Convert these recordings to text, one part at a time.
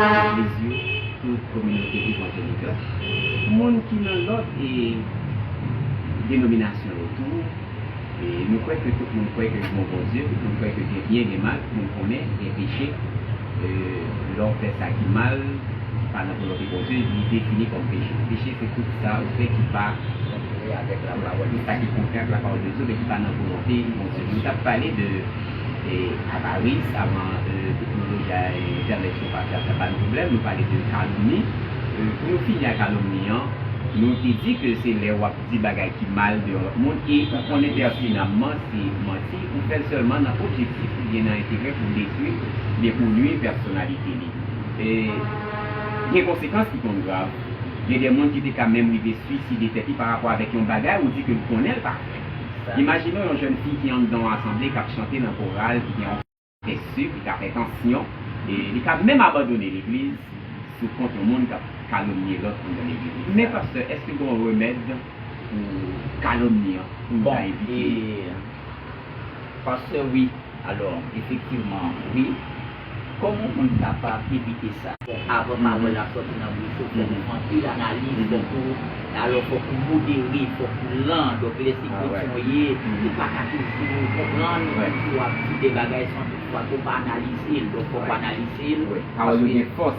Legliz yo, tout kominote evanjelikan, moun ki nan lòt denominasyon yo tou, nou kwè ke tout moun kwè ke gen yon Bondye, tout moun kwè ke gen byen, gen mal, tout moun konnen gen peche, lè w fè sa ki mal, ki pa nan volonte Bondye, li defini kòm peche. Peche se tout sa ou fè ki pa kontre avèk lapawòl, tout sa ki kontre ak lapawòl de Dye men ki pa nan volonte Bondye. Nou t ap pale de. Avaris, avan teknoloji a, entènèt yo pa fè, ap ba nou pwoblèm, nou pale de kalomni. Pou nou fini a kalomni an, nou te di ke se lè wap di bagay ki mal deyò lòt moun e ou konnen pètinamman se manti, ou fèl sèlman nan objektif ou byen nan enterè pou detwi oubyen pou nwi pèsonalite li. Gen konsekans ki konn grav. Gen de moun ki te ka menm rive swiside tèt li parapò avèk yon bagay ou di ke li konnenl pa fè. Imajine w yon jèn fi ki anndan yon asanble k ap chante nan koral ki gen yon kè si ki ka fè tansyon e li ka menm abandone legliz sou kont yon moun k ap kalomnye lòt anndan legliz li. Men pastè, èske gen yon remèd pou kalomni an pou nou ta evite li? Bon, e, pastè, wi, alò, efektivman, wi. Koman moun kapab evite sa? Bon avan pawòl la sòti nan bouch ou fòk ou anpil analiz fòk ou alò fòk ou modere fòk ou lan donk lè se kretyen ou ye ou pa ka toujou konprann ou toujou ap di de bagay san tout fwa ke ou pa analize l donk fòk ou analize l pawòl yo gen fòs.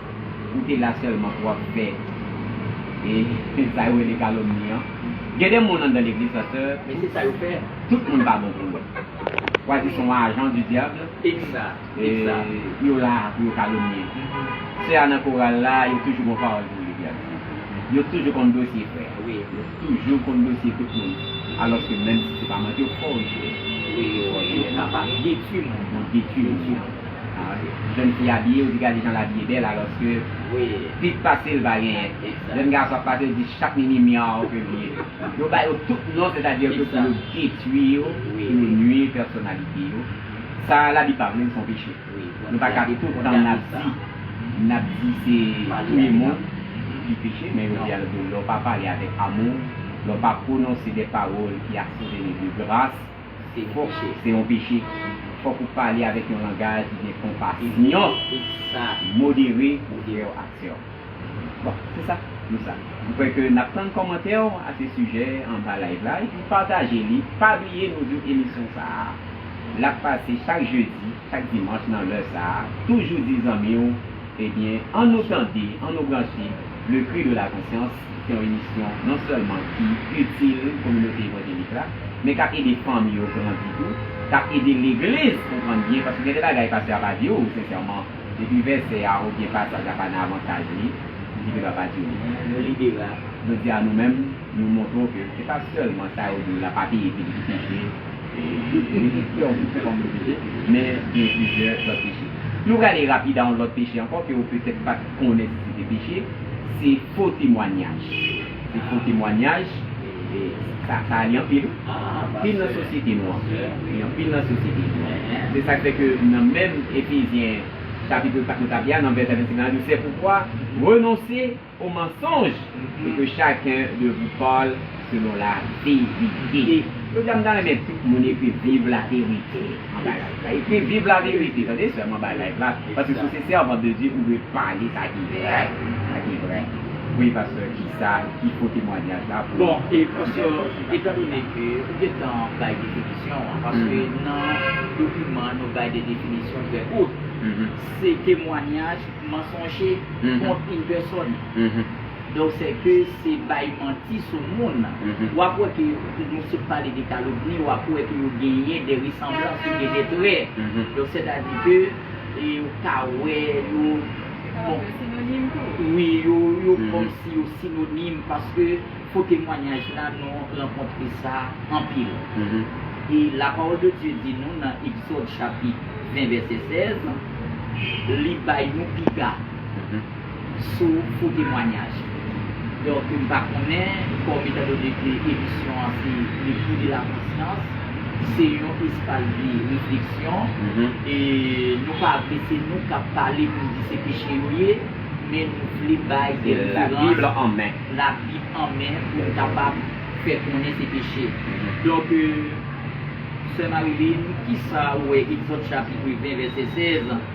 Ou te la sèlman pou ap fè e sa yo rele kalomni an. Gen de moun anndan legliz la sè, men se sa yo fè, tout moun pa bon pou yo. Ou a di son agent du diable e yo la pou yo kalomnie. Sè a nan koral la, yo toujou gon pawòl pou li di a misye. Yo toujou konn dosye frè a. Yo toujou konn dosye tout moun. Alòske menm si se pa manti yo fò jwe. Yo kapab detwi moun nan. Jèn fi abiye yo di gade jan l abiye bèl alòske plis pase l pa genyen. Jèn gason ap pase yo di chak mimi myaw ke l ye. Yo ba yo tout non sètadi ke pou yo detwi yo, pou yo nui pèsonalite yo. Sa Labib pa vle l se yon peche. Nou pa ka tout tan n ap di n ap di se touye moun ki peche men yo di a lòt bò lè w pa pale avèk amou, lè w pa pwononse de pawòl ki asevene de gras. Se fòse, se yon peche. Fòk ou pale avèk yon langaj ki gen konpasyon, modere pou erè w ak sè w. Bon, se sa nou sa. M kwè ke n ap tann kòmantè w a se sijè anba live la epi pataje li. Pa bliye nou di w emisyon sa a l ap pase chak jedi, chak dimanch nan lè sa a. Toujou di zanmi w, ebyen an nou tande, an nou branche le cri de la conscience. Se yon emisyon non sèlman ki itil kominote evanjelik la, men k ap ede fanmi yo grandi tou, k ap ede legliz konprann byen, paske gen de bagay pastè a pa di w sensèman, epi vèsè a oubyen pasaj a pa nan avantaj li, li gen dwa pa di w li. Nan lide la, jodi a nou menm, nou montre w ke se pa sèlman sa yo di w la pa peye pi di ki peche, li di fè yon tout se kòm yon peche, men gen plizyè lòt peche. Nou prale rapid a yon lòt peche ankò ke w petèt pa t. konnen si se te peche, se fo temwanyaj. Se fo temwanyaj, e sa sa li anpil, anpil nan sosyete nou an. Li anpil nan sosyete nou an. Se sa k fè ke nan menm Efezyen chapitre 4 nou t ap li a, nan vèsè 25 la, l di, Sèpoukwa, renonse o mansonj, e ke chaken de vou pale. Selon la vérité. Jodi a m ta renmen tout moun ekri viv la vérité an ba live la ekri viv la vérité tande sèlman ba live la paske si w se sèvan de Dye ou dwe pale sa ki vrè sa ki vrè wi pastè kisa ki fo temwanyaj la pou Bon e pastè etan done ke ou gentan bay definisyon an paske nan dokiman nou bay de definisyon trè kout se temwanyaj mansonje kont yn pèsòn. Donk sè ke se bay manti sou moun. Wap wè ke nou sot pale de kalomni, wap wè ke yo genyen de resanblans, yo gen de trè. Donk sètadi ke ou ka wè yo. Sa va fè sinonim tou. Wi, yo kòmsi yo sinonim paske fo temwanyaj la nou rankontre sa anpil. E la pawòl de Dye di nou nan Egzòd chapit 20 vèsè 16, li bay nou piga. sou pou temwanyaj. Donk m pa konnen kòm etan done ke emisyon an se Le Fruit de la Conscience, se yon espas de refleksyon e nou pa vle se nou k ap pale pou n di se peche yo ye, men nou vle bay de referans, Labib an men, Labib an men pou n kapab fè konnen se peche. Donk, Sè Marilyn, kisa ou wè Egzòd chapit 20 vèsè 16?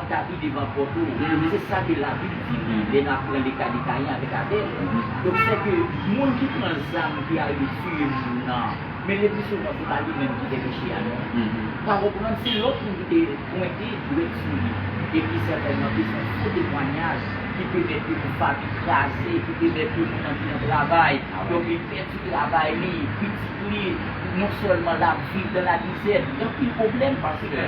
Tapi devan pòt ou. Se sa ke labib di wi lè nap pran le ka de Kayen avek Abel. Donk sè ke moun ki pran zam ki arive tiye moun nan men le pli souvan se pa li menm ki fè peche a non. Pa konprann se lòt moun ki te pwente dwèt sou li. Epi sètènman ke son fo temwanyaj ki pemèt ke yon fami kraze, ki pemèt ke moun nan pi nan travay, donk li pèdi travay li, pitit li non sèlman lap viv dan lamizè, li anpil pwoblèm paske.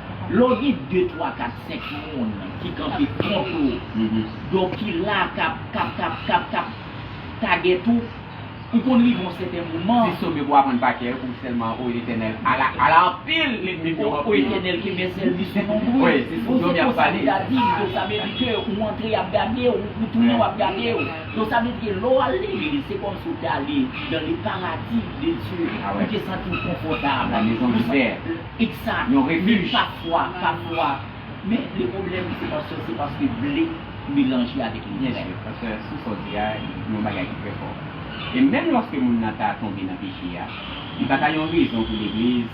Lè w gen de, twa, kat, senk moun ki kanpe kont ou, donk ki la kap, kap, kap, kap, kap tagèt ou, ou konn rive yon sèten moman. Ti sobe pou w aprann pa kè pou w sèlman o Etènèl, ala, ala anpil lènmi m yo anpil. O Etènèl ke mèsèl li sou lonbri w. Bon se konsa li ta di m, donk sa vle di ke ou antre y ap gade w, ou tounen w ap gade w. Donk sa vle di ke lè w al li li, se kòmsi ou te ale dan le paradi de Dye, ou te santi w konfòtab. La mezon di pè. Pizza yon refi pafwa pafwa men le problem se paske se paske ble melanje avek li yes sir paske sou sa w di a yon bagay ki trè fò e menm loske moun nan ta tonbe nan peche a li pa ta yon rezon pou legliz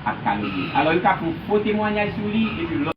ap kalomni l alò yo ka pran fo temwanyaj sou li epi lòt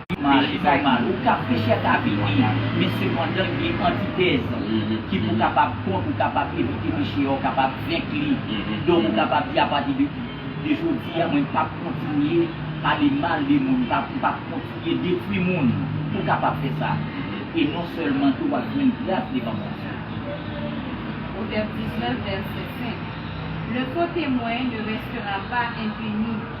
Mari bay mal. Ou ka prechè ta bini, men sepandan gen antitèz ki pou kapab kont, ou kapab evite peche a, ou kapab venk li. Donk ou kapab di apati de de jodi a mwen pap kontinye pale mal de moun, pap m pap kontinye detwi moun. Ou kapab fè sa. E non sèlman tou wap jwenn gras devan Bondye. Pwovèb 19 vèsè 5 Le faux témoin ne restera pas impuni.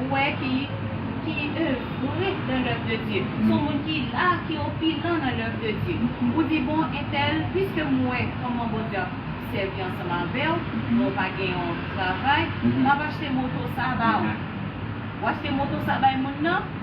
Ou wè ki ki evre dan lèv de Dye. Son moun ki la, ki opilan nan lèv de Dye. Ou di bon entèl piske m wè kòman Bondye ap sèvi ansanm avè w, men w pa gen yon travay, m ap achte moto sa ba ou. Ou achte moto sa bay moun nan,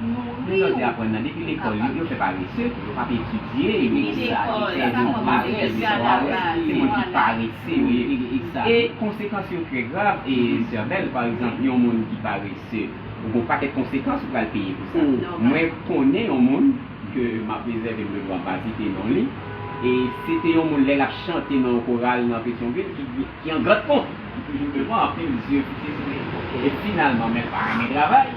Nouri yo. Mezanti aprann nan depi lekòl yo fè parese, yo pap etidye, yo gen sa ki fè yo parèt e disparèt, se moun ki parese yo ye e konsekans yo trè grav sè Bèl pa egzanp yon moun ki parese ou gon pakèt konsekans ou pral peye pou sa mwen konnen yon moun ke map rezève m de dwa m pa site non li e se te yon moun lè lap chante nan yon koral nan Petyonvil ki an gradpon ki toujou devan anpil zye pou titire e finalman men l pa renmen travay.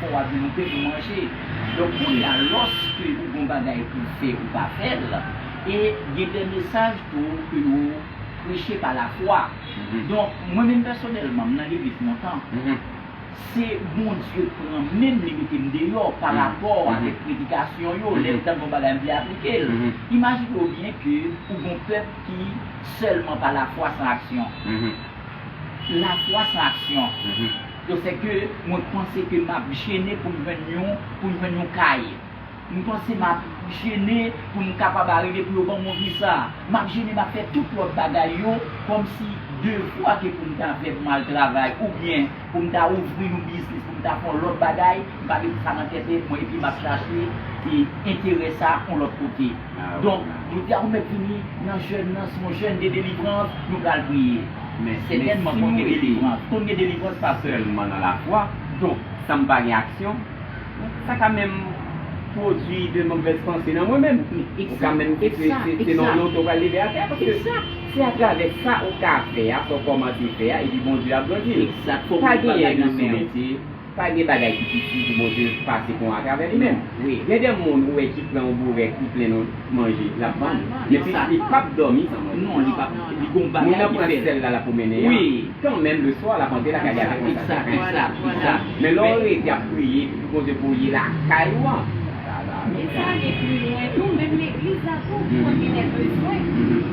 Fò wa gen anpe pou manje. Donk kounya lòske ou gon bagay pouw fè ou pa fèl e gen dè mesaj tou ke yo preche pa la fwa. Donk mwen menm pèsonèlman m nan legliz lontan se Bondye k pran menm li metem deyò pa rapò avèk predikasyon yo lè m tande yon bagay m vle aplikel. Imajinew byen ke ou gon pèp ki sèlman pa la fwa san aksyon. La fwa san aksyon. Yo se ke mwen panse ke map jene poum jwenn yon poum jwenn yon kay m panse map jene poum kapab arive pou yo banm yon visa map jene map fè tout lòt bagay yo kòmsi devwa ke poum ta fè poum al travay oubyen poum ta ouvri yon biznis poum ta fè yon lòt bagay m pa met sa nan tèt mwen epi map chache enterè sa yon lòt kote. Donk nou di a ou mèt vini nan jèn nan si yon jèn gen delivrans nou pral priye men sètènman konn gen delivrans konn gen delivrans pa sèlman nan lafwa donk san m pa gen aksyon sa ka menm pwodwi de movèz panse nan mwen menm ou ka menm se nan yon to pral leve atè paske se atravè sa ou ka fè a sa ou kòmanse fè a epi Bondye ap grandi l pa genyen de sou metye. Pa gen bagay ki pi di pou Bondye pase pon atravè li menm. Gen de moun ou wè ki pran yon bourèk ki plen nan manje lap vann men pi ta li pap dòmi san manje. Non li pap li gon bagay ki fèl. Moun nan pran sèl la lap pwomennen an kan menm le swa lap antre lakay li avèk yon sèl saten. Men lè w rete ap priye depi Bondye voye lakay ou an. Nèg sa gen pi lwen tou menm legliz la tou fòk genlè bezwen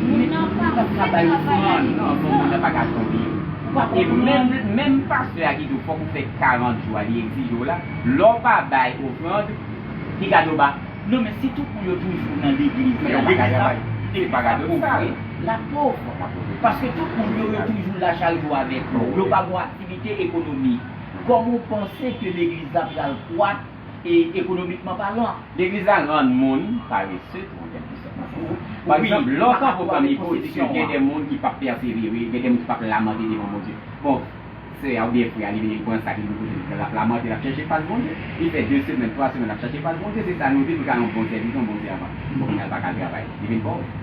moun nan pa fè travay li tout tan. Moun nan pa ka tonbe. Ou pa konprann. E menm pastè a ki di w fòk ou fè 40 jou a li egzije w la, lè w pa bay ofrand li ka di w ba. Non men si tout moun yo toujou nan legliz la, legliz la epi pa pove, la pov. Paske tout moun yo yo toujou la chak jou avèk ou, yo pa gon aktivite ekonomik. Kòman w panse ke legliz la pral kwak? E ekonomikman palan. Legliz la rann moun parese tou an kèlke sòt. Pa egzanp, lè w ka pwoklame pou Bondye, gen de moun ki pap pèsevere, gen de moun ki pap lamante devan Bondye. Bon, sè a oubyen frè a li vin li pran sak li gen pou l te pran, l ap lamante, l ap chèche fas Bondye. Li fè de semèn, twa semèn l ap chèche fas Bondye. Se sa nou di pou l ka yon bon sèvitè, yon bon sèvant. Bon, kounye a l pa ka al travay. Li vin pòv.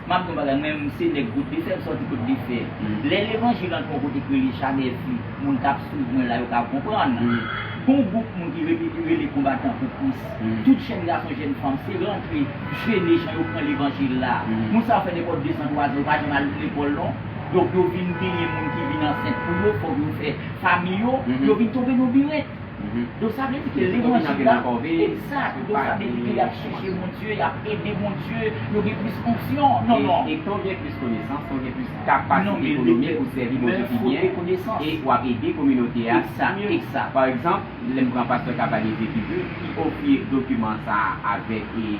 Map di yon bagay mwen menm se nèg kote fèm sòti kote li fè lè levanjil antre yon kote k rele chanè vi moun kap swiv mwen la yo ka konprann gon gwoup moun ki rele yo rele konbatan pou kris tout jèn gason jèn fanm se rantre jene jan yo pran levanjil la moun sa yo fè nenpòt dezan twazan yo pa janm al lekòl non donk yo vin genyen moun ki vin ansent pou yo fòk yo fè fami yo yo vin tonbe nan birèt. Don sa vle di ke lè moun sou la, exact, don sa vle di ke yap chèche Bondye, yap ede Bondye, yo gen plis onksyon, non non. E ke w gen plis konesans, ke w gen plis kapasite ekonomik pou w sèvi Bondye pi byen, e wap ede kominote a pi mye. Exact. Pa egzanp, lè m pran pastè Cavalier Pétitbut ki ofri dokiman sa a avèk e.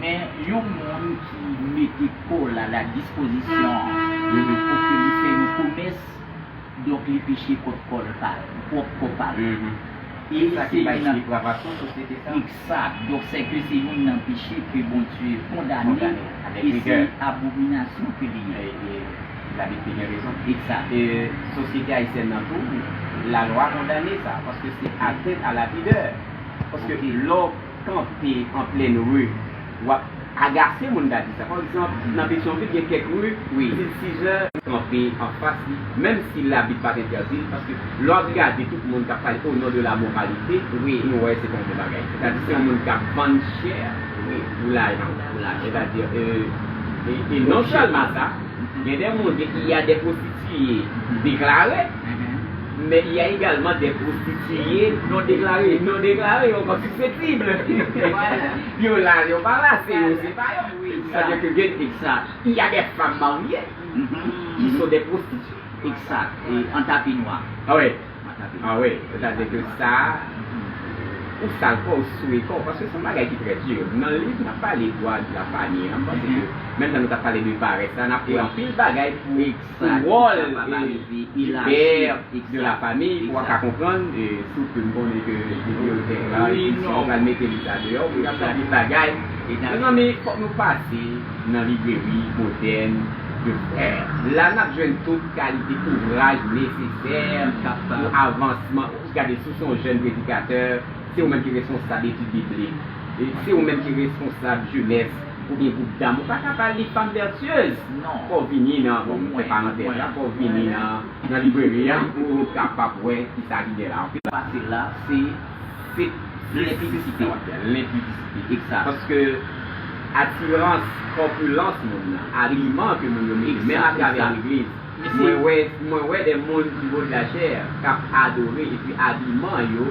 Men yon moun ki mete kò l a la dispozisyon pou ke li fè yon komès, donk li peche kont kò l pa l, pwòp kò pa l. E sa ki bay depravasyon sosyete sa a. Egzat. Donk se ke se youn nan peche ke Bondye kondane e se abominasyon ke li ye. E Labib te gen rezon. Egzat. E sosyete ayisyèn nan tou, lalwa kondane sa, paske se atènt a lapidè. Paske lè w. kanpe an plenn ru wap agase moun gade sa pa egzanp nan petyonvil gen kèk ru til size kanpe anfas li menm si labit pat entèdil paske lè wap gade tout moun kap pale o non de la moralite nou wè se pa yon bon bagay sètadi se yon moun kap vann chè pou lajan sètadi e non sèlman sa gen de moun ke i a de pwostitiye deklare. Men y a egalman dè pwostitiye non deklare, non deklare yo kòm sispèktib. Yo la, yo pa la, se yo, se pa yo. Sa vle di ke gen eksa. Y a dè fanm marye ki son dè pwostitiye. Eksa. E an tapi nwa. A wi. An tapi nwa. A wi. Se ta di ke sa, ou sal kò w, ou souye kò w. Paske se yon bagay ki trè di. Nan liv nan pale dwa de la fami an, m panse ke menm jan nou ta pale de parès la, nan pale anpil bagay pou. Pou wòl du père de la famille pou a ka konprann sou ke m konnen ke bibliyotèk la e pi si nou pral mete li sa deyò pou nou ka di bagay mezanmi fòk nou pase nan libreri modèn de frère la n ap jwenn tout kalite ouvraj nesesè pou avansman gade si w se yon jèn predikatè se ou menm ki responsab etid biblik se ou menm ki responsab jenès. Ou gen group dam ou paka bal li fanm vertueuse non fòw vini nan bon mwen fè parantèz la fòw vini nan nan libreri an pou ou kapab wè kisa ki gen la ok. Pase la se se lenpidisite wap fè lenpidisite ekzat paske atirans kòpilans moun nan abiman ke moun yo mete menm atravè legliz mwen wè mwen wè de moun ki vo de la chè kap adore epi abiman yo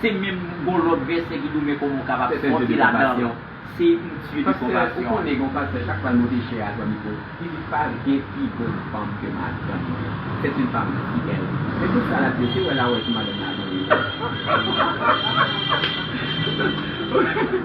Se menm gon lòt vèsè ki tou men kòman ou kapab sòti ladanl se yn tye de konvasyon. Pastè ou konnen gen yon pastè chak fwa l moute chè a pran mikro li di pa gen pi bon fanm ke madanm mwen c'est une femme si belle men tout sa lap di yo se wè la wè sou madanm la a tonbe.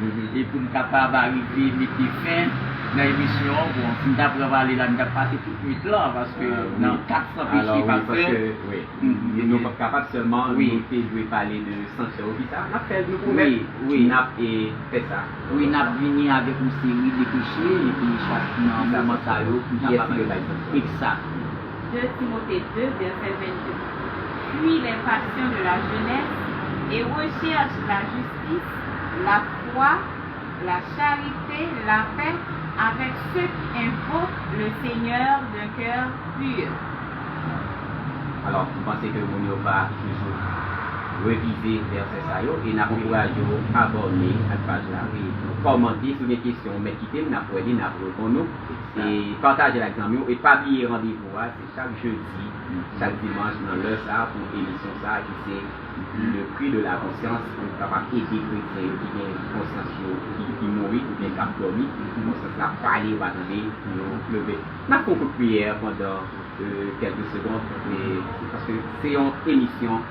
E pou n kapab arive mete fen nan emisyon an, bon si n ta pran pale la n tap pase tout nwit lan paske nan 400 peche pa fè. Alò wi paske nou pap kapab sèlman nou te dwe pale de sanksyon yo pita nap fè nou pwomèt nap fè sa. Wi nap vini avèk yon seri de peche epi chak nan moman sa yo pou n kapab. Kiyès ki dwe bay sanksyon. Ekzat. 2 Timothée 2, vèsè 22 Fui les passions de la jeunesse, et recherche la justice, la foi, la charite, la paix avec ceux qui invoquent le Seigneur d'un cœur pur. Alò, m panse ke moun yo va toujou revize vèsè sa yo e n ap ankouraje w abòne ak paj la e kòmante. Si w gen kesyon ou mèt kite l, n ap wè li, n ap reponn ou. E patajel ak zanmiw e pa bliye randevou a se chak jedi chak dimanch nan lè sa pou emisyon sa ki se le prix de la conscience pou nou kapab ede kretyen yo ki gen konsyans yo ki mouri oubyen kap dòmi konsyans la pale yo pa tande pou yo leve nap fon kout priyè pandan kelke segond paske se yon emisyon.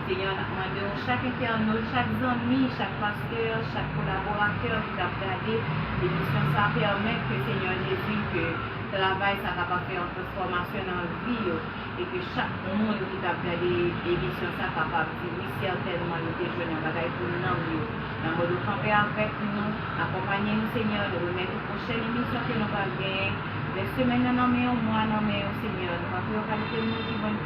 Senyè a nap mande w chak entènot, chak zanmi, chak pastè, chak kolaboratè ki kap gade emisyon sa pèmèt ke Senyè Jezi ke travay sa kapab fè yon transfòmasyon nan vi yo e ke chak moun ki kap gade emisyon sa kapab di wi sètènman yo te jwenn yon bagay pou nanm yo nan mòd ou kanpe avèk nou akonpanye nou Senyè nou remèt ou pwochèn emisyon ke nou pral genyen rès semèn nan nan men w mwa nan men w Senyè nou pa pou yo kalite moun ki vann